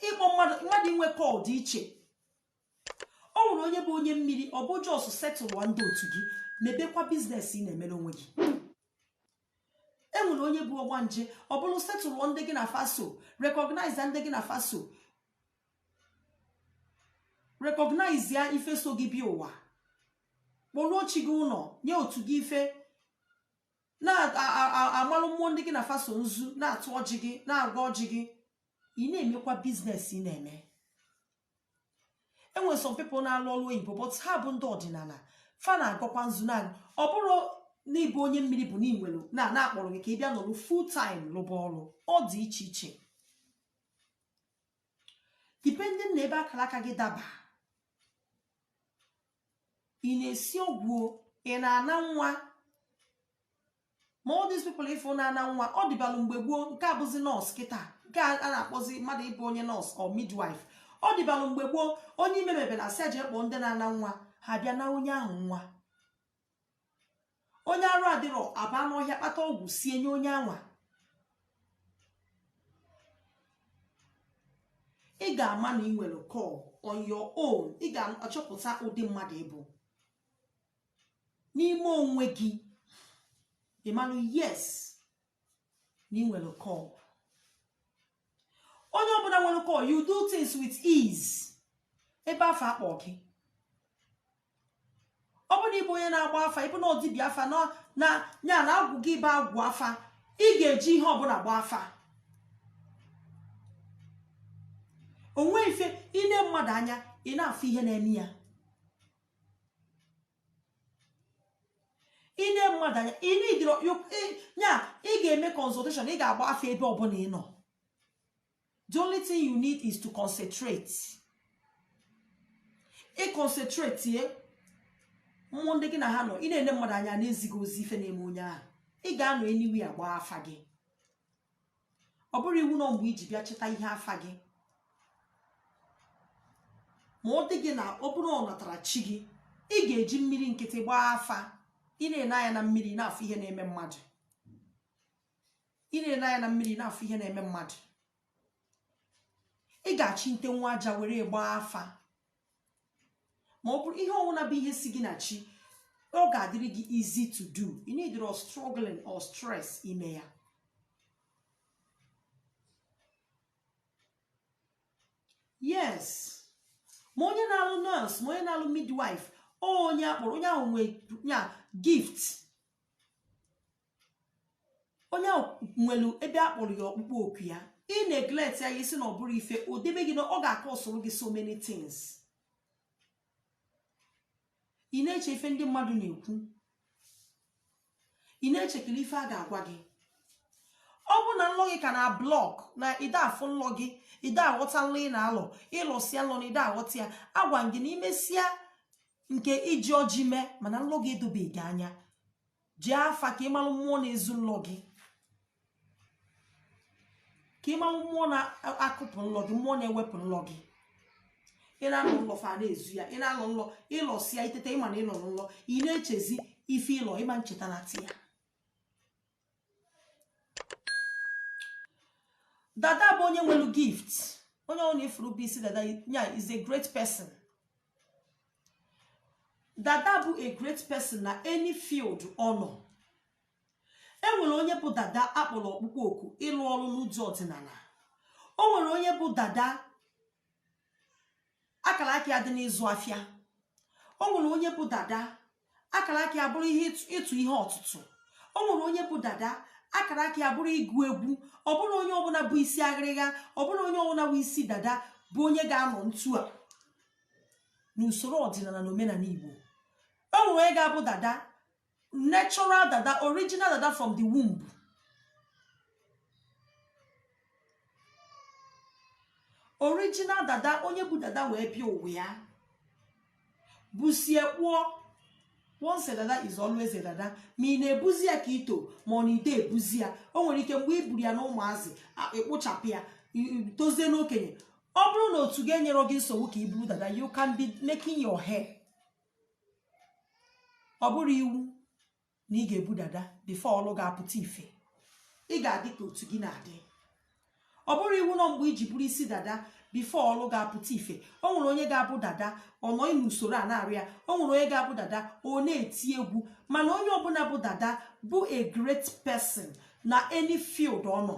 ịkpọ mmadụ inwe call dị iche ọ nwere onye bụ onye mmiri ọ bụ just setụlụọ ndị otu gị mebekwa business ị na-emere onwe gị e nwere onye bụ ọgbanje ọ bụrụ setụlụọ ndị gị na fa so recognize ndị gị na fa so recognize ya ife so gị bịa ụwa kpọruo chi gị ụlọ nye otu gị ife na-amalụ mmụọ ndị gị na fa so nzu na-atụ ọjị gị na-agọ ọjị gị ị na-emekwa business ị na-eme enwere some people na-alụ ọrụ oyibo but ha bụ ndị ọdịnala fa na-agọkwa nzu na ọ bụrọ n'ịbụ onye mmiri bụ n'inwere na na akpọrọ gị ka ị bịa nọrụ full time lụba ọrụ ọ dị iche iche depending na ebe akara aka gị daba ị na-esi ọgwụ ị na-ana nwa ma all these people ị fụ na-ana nwa ọ dịbalụ mgbe gboo nke a bụzi nurse kịta nke a na-akpọzi mmadụ ịbụ onye nurse or midwife ọ dịbalụ mgbe gboo onye ime mebe na sị jee kpọọ ndị na-ana nwa ha bịa naa onye ahụ nwa onye arụ adịrọ a baa n'ọhịa kpata ọgwụ sie nye onye anwa ị ga-ama na ị nwere call on your own ị ga-achọpụta ụdị mmadụ ịbụ n'ime onwe gị ị malụ yes na ị nwere call onye ọbụla nwere call you do things with ease ebe afụ akpọ gị ọ bụrụ na ịbụ onye na-agba afa ịbụ na ọ dibịa afa na na ya na agwụ gị bụ agwụ afa ị ga-eji ihe ọbụla gba afa o nwe ife i nee mmadụ anya ị na-afụ ihe na-eme ya i nee mmadụ anya ị needirọ ya ị ga-eme consultation ị ga-agba afa ebe ọbụla ị nọ the only thing you need is to concentrate ị concentrate ye mmụọ ndị gị na ha nọ ị na-ene mmadụ anya a na-ezi gị ozi ife na-eme onye ahụ ị ga-anọ anywhere gbaa afa gị ọ bụrọ iwu na ọ mgbe i ji bịa chịta ihe afa gị ma ọ dị gị na ọ bụrụ ọnatara chi gị ị ga-eji mmiri nkịtị gbaa afa ị na-ene anya na mmiri na-afụ ihe na-eme mmadụ ị na-ene anya na mmiri na-afụ ihe na-eme mmadụ ị ga-achị nte nwa aja were gbaa afa ma ọ bụrụ ihe ọwụna bụ ihe si gị na chi ọ ga-adịrị gị easy to do you need no struggling or stress ime ya yes ma onye na-alụ nurse ma onye na-alụ midwife onye akpọrọ onye ahụ nwe ya gift onye ahụ nwere ebe a kpọrọ ya ọkpụkpọ oku ya ị neglect ya ị sị na ọ bụrụ ife o debe gị na ọ ga-akọsoro gị so many things ị na-eche ife ndị mmadụ na-ekwu ị na-echekiri ife a ga-agwa gị ọ bụrụ na nlọ gị ka na block na ide afụ nlọ gị ide aghọta nlọ ị na-alọ ịlọsịa nlọ na ide aghọta ya agwa gị na imesịa nke iji ọjị mee mana nlọ gị edobeghị anya jee afa ka ịmalụ mmụọ na-ezu nlọ gị ka ịmalụ mmụọ na-akụpụ nlọ gị mmụọ na-ewepụ nlọ gị ị na-alọ nlọ fa na-ezu ya ị na-alọ nlọ ịlọsịa itete ịma na ịlọlọ nlọ ị na-echezi ife ịlọ ịma ncheta na ti ya dada bụ onye nwelu gift onye ọ na ị fụrụ bu isi dada ya is a great person dada bụ a great person na any field ọ nọ e nwere onye bụ dada akpọrọ ọkpụkpọ oku ịlụ ọrụ n'ụdị ọdịnana o nwere onye bụ dada akara aka ya dị n'ịzụ afịa o nwere onye bụ dada akara aka ya bụrụ ihe ịtụ ihe ọtụtụ o nwere onye bụ dada akara aka ya bụrụ ịgụ egwu ọ bụrọ onye ọbụna bu isi aghịrịgha ọ bụrọ onye ọbụna bu isi dada bụ onye ga-anọ ntu a n'usoro ọdịnana na omenana igbo o nwere onye ga-abụ dada natural dada original dada from the womb original dada onye bu dada wee bịa ụwa ya busie kpụọ once a dada is always a dada ma ị na-ebuzi ya ka i to ma ọ na ide ebuzi ya o nwere ike mgbe i buru ya na ụmụazị a- ịkpụchapụ ya i- i- tozie n'okenye ọ bụrụ na otu ga-enyere gị nsogbu ka i buru dada you can be making your hair ọ bụrọ iwu na ị ga-ebu dada before ọlụ ga-apụta ife ị ga-adị ka otu gị na-adị ọ bụrọ iwu na ọ mgbe iji buru isi dada before ọlụ ga-apụta ife o nwere onye ga-abụ dada ọ nọ n'usoro a na-arụ ya o nwere onye ga-abụ dada ọ na-eti egwu mana onye ọbụna bụ dada bụ a great person na any field ọ nọ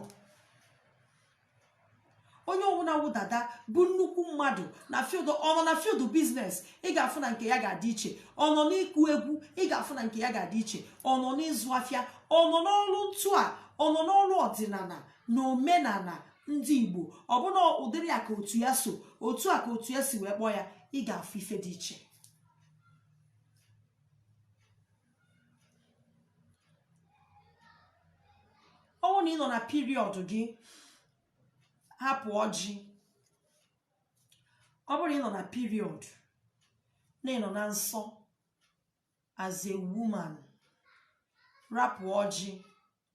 onye ọbụla wụ dada bụ nnukwu mmadụ na field ọ nọ na field business ị ga-afụ na nke ya ga-adị iche ọ nọ n'ịkụ egwu ị ga-afụ na nke ya ga-adị iche ọ nọ n'ịzụ afịa ọ nọ n'ọrụ ntụ a ọ nọ n'ọrụ ọdịnala na omenala ndị igbo ọ bụ na ụdịrị ya ka otu ya so otu a ka otu ya si wee kpọọ ya ị ga-afụ ife dị iche ọ bụrụ na ị nọ na period gị hapụ ọjị ọ bụrụ na ị nọ na period na ị nọ na nsọ as a woman rapụ ọjị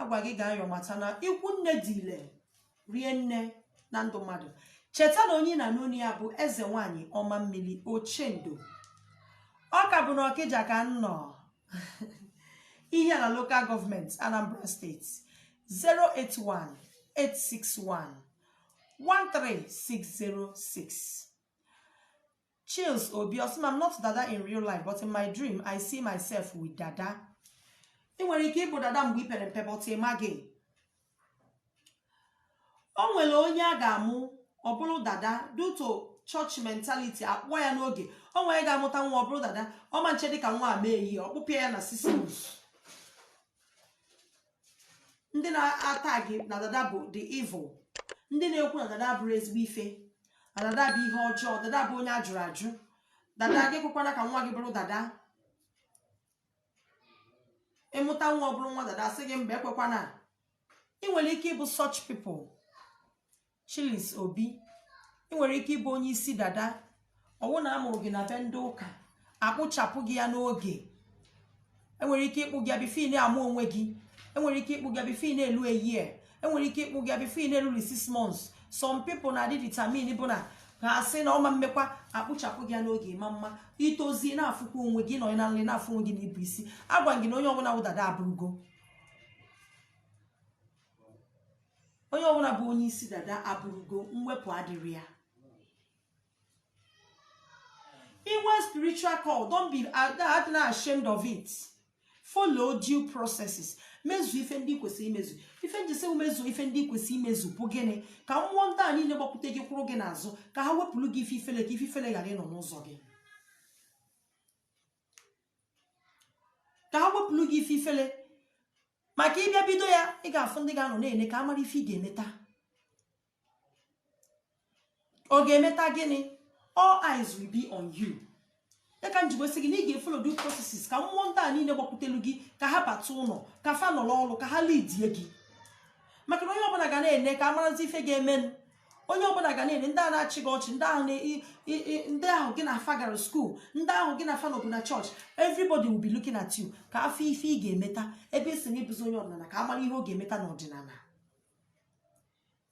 agwa gị gaa yọọ mata na ikwu nne dị ile rie nne na ndụ mmadụ cheta na onye ị na-anụ olu ya bụ eze nwanyị ọma mmiri ochendo ọ ka bụ na ọkịja ka m nọ ihiala local government anambra state 081 861 13606 Chills Obi ọ sị na I'm not dada in real life but in my dream I see myself with dada ị nwere ike ịbụ dada mgbe i pere mpe but ị maghị o nwere onye a ga-amụ ọ bụrụ dada due to church mentality akpụọ ya n'oge o nwere ga-amụta nwa ọ bụrụ dada ọ ma nchedị ka nwa a mee year ọ kpụpịa ya na scissors ndị na-ata gị na dada bụ the evil ndị na-ekwu na dada abụrọ ezigbo ife na dada bụ ihe ọjọọ dada bụ onye ajụrụ ajụ dada gị ekwekwana ka nwa gị bụrụ dada ị mụta nwa ọ bụrụ nwa dada sị gị mba ekwekwana ị nwere ike ịbụ such people Chilis Obi ị nwere ike ịbụ onye isi dada ọwụ na amụrụ gị na be ndị ụka akpụchapụ gị ya n'oge enwere ike ịkpụ gị before ị na-ama onwe gị enwere ike ịkpụ gị before ị na-elu a year enwere ike ịkpụ gị before ị na-elu six months some people na-adị determine bụ na ha asị na ọ ma mmekwa akpụchapụ gị ya n'oge mana i tozie na-afụkwa onwe gị nọ na nrọ na-afụ onwe gị na i bu isi agwa gị na onye ọbụla wụ dada abụrụgo onye ọbụla bụ onye isi dada abụrụgo mwepụ adịrọ ya i nwee spiritual call don't be adịna ashamed of it follow due processes mezu ife ndị i kwesịrị imezu ife m ji sị mezu ife ndị i kwesịrị imezu bụ gịnị ka mmụọ ndị a niile gbakwute gị kwụrụ gị n'azụ ka ha wepụrụ gị ife ifele ka ife ifele ghara ịnọ n'ụzọ gị ka ha wepụrụ gị ife ifele maka ị bịa bido ya ị ga-afụ ndị ga-anọ na-ene ka a mara ife ị ga-emeta ọ ga-emeta gịnị all eyes will be on you ya ka m jikwa sị gị na ị ga-efolo due processes ka mmụọ ndị a niile gbakwutelu gị ka ha bata ụlọ ka fa nọrọ ọrụ ka ha lidie gị maka na onye ọbụla ga na-ene ka a marazi ife ga-emenụ onye ọbụla ga na-ene ndị ahụ na-achị gị ọchị ndị ahụ gị na afa gara skuul ndị ahụ gị na afa nọbu na chọọchị everybody will be looking at you ka a fụ ife ị ga-emeta ebe ị sị na ị bụzi onye ọdịnala ka a mara ihe ọ ga-emeta n'ọdịnala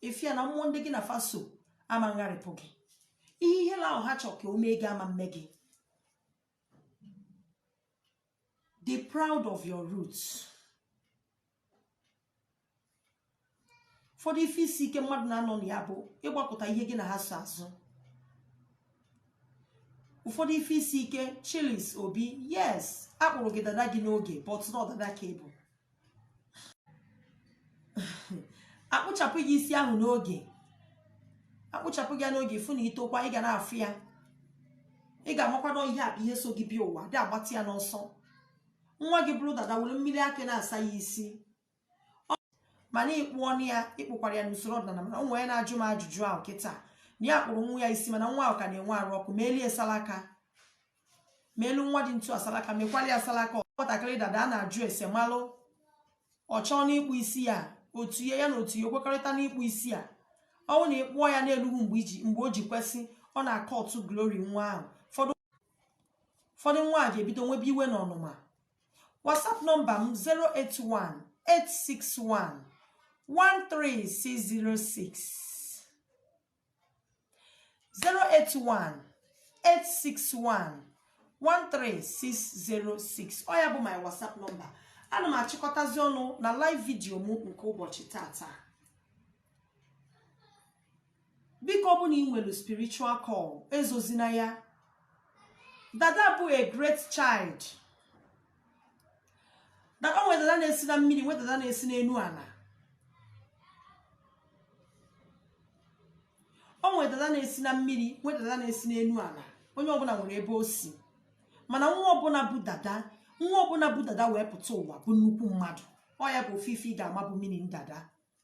ị fụ ya na mmụọ ndị gị na afa so ama ngharịpụ gị ihe ihe ahụ ha chọrọ ka o mee gị ama mme gị Be proud of your roots. ụfọdụ ife isi ike mmadụ na-anọ na ya bụ ịgbakụta ihe gị na ha so azụ ụfọdụ ife isi ike chilis obi yes a kpụrụ gị dada gị n'oge but na ọ dada ka ị bụ a kpụchapụ gị isi ahụ n'oge a kpụchapụ gị ya n'oge ị fụ na i tokwa ị ga na-afụ ya ị ga-amakwanụ ihe a bụ ihe so gị bịa ụwa a dị agbata ya n'ọsọ nwa gị bụrụ dada were mmiri akị na-asa ya isi mana ị kpụọnụ ya ị kpụkwara ya n'usoro ọdịnala mana onye a na-ajụ m ajụjụ ahụ kịta na ya kpụrụ nwa ya isi mana nwa ahụ ka na-enwe arụ ọkụ meeli ya salaka meelu nwa dị etu a salaka mekwalụ ya salaka nwatakịrị dada a na-ajụ ese malụ ọ chọọ n'ịkpụ isi ya otu ya na otu ya o kwekọrịta n'ịkpụ isi ya ọ bụ na ị kpụọ ya na elughu mgbe o ji kwesị ọ na-akụtu glori nwa ahụ ụfọdụ nwa a ga-ebido nwebe iwe na ọnụma whatsapp nọmba m 081 861 13606 081 861 13606 ọ ya bụ my whatsapp nọmba ana m achịkọtazi ọnụ na live vidio m nke ụbọchị tata biko ọ bụ na i nwere spiritual call ezozina ya dada bụ a great child na o nwere dada na-esi na mmiri nwee dada na-esi n'enu ala o nwere dada na-esi na mmiri nwee dada na-esi n'enu ala onye ọbụla nwere ebe o si mana nwa ọbụla bụ dada nwa ọbụla bụ dada wee pụta ụwa bụ nnukwu mmadụ ọ ya bụ ofu ife ị ga-ama bụ mmiri ndada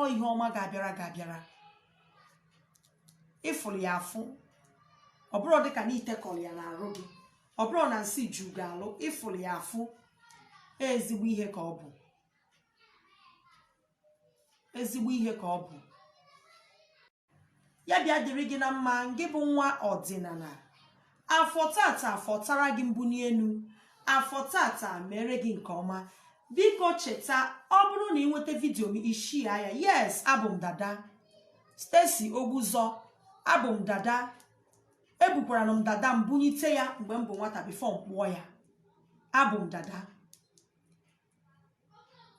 ọ ihe ọma ga-abịara ga-abịara ị fụrụ ya afụ ọ bụrụ dịka na i tekọrọ ya n'arụ gị ọ bụrụ na nsị ju gị arụ ị fụrụ ya afụ ezigbo ihe ka ọ bụ ezigbo ihe ka ọ bụ ya bịa dịrị gị na mma ngị bụ nwa ọdịnala afọ tata fọtara gị mbuni enu afọ tata meere gị nke ọma biko cheta ọ bụrụ na ị nweta vidio m i share ya yes abụ m dada Stacy Ogbuzọ abụ m dada ebukwaranụ m dada m bunyite ya mgbe m bụ nwata bifo m kpụọ ya abụ m dada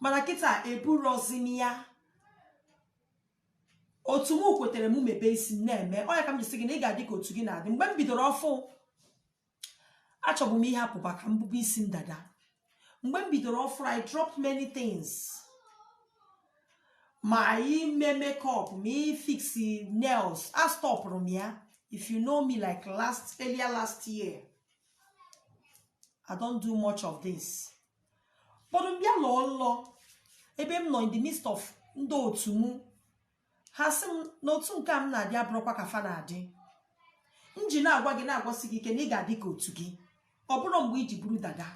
mana kịta eburozi m ya otu m kwetere m mebe isi m na-eme ọ ya ka m ji sị gị na ị ga-adị ka otu gị na-adị mgbe m bidoro ọfụrụ achọbu m ịhapụba ka m bube isi m dada mgbe m bidoro ọfụrụ I dropped many things ma ime makeup ma ịfix nails astọpụrụ m ya if you know me like last earlier last year I don't do much of this but m bịa lọọ nlọ ebe m nọ in the midst of ndị otu mụ ha sị m na otu nke a m na-adị abụrọkwa ka fa na-adị m ji na-agwa gị na-agwasi gị ike na ị ga-adị ka otu gị ọ bụrọ mgbe i ji buru dada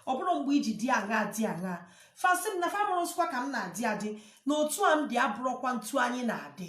ọ bụrọ mgbe i ji dị aṅa dị aṅa fa sị m na fa amarọzikwa ka m na-adị adị na otu a m dị abụrọkwanụ otu anyị na-adị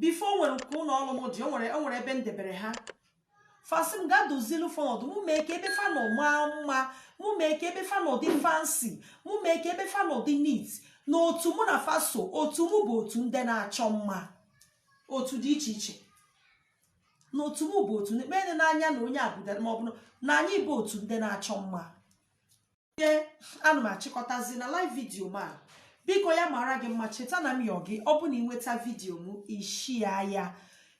bifo o nwere nke ụlọ ọrụ m dị o nwere ebe m debere ha fa sị m gaa dozilu fa ọnọdụ mụ mee ka ebe fa nọ maa mma mụ mee ka ebe fa nọ dị fancy mụ mee ka ebe fa nọ dị neat na otu mụ na fa so otu mụ bụ otu ndị na-achọ mma otu dị iche iche na otu mụ bụ otu ndị kpee n'anya na onye abụdara ma ọ bụ na anyị bụ otu ndị na-achọ mma ihe ana m achịkọtazi na live vidio m a biko ya mara gị mma cheta na m yọọ gị ọ bụ na ị nweta vidio m i share ya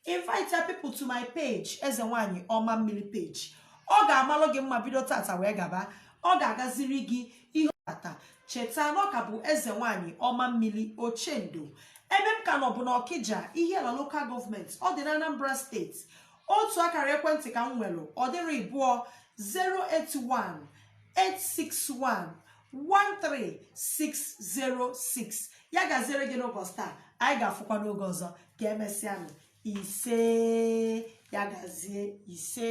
invite ya people to my page eze nwanyị ọma mmiri page ọ ga-amalụ gị mma bido tata wee gaba ọ ga-agaziri gị ihe tata cheta na ọ ka bụ eze nwanyị ọma mmiri ochendo ebe m ka nọ bụ n'ọkịja ihiala lokal gọọmenti ọ dị na anambra steeti otu akara ekwentị ka m nwere ọ dịrọ ịbụọ 081 861 13606 ya gaziere gị n'ụbọchị taa anyị ga-afụkwa n'oge ọzọ ka emesịanụ ise ya gazie ise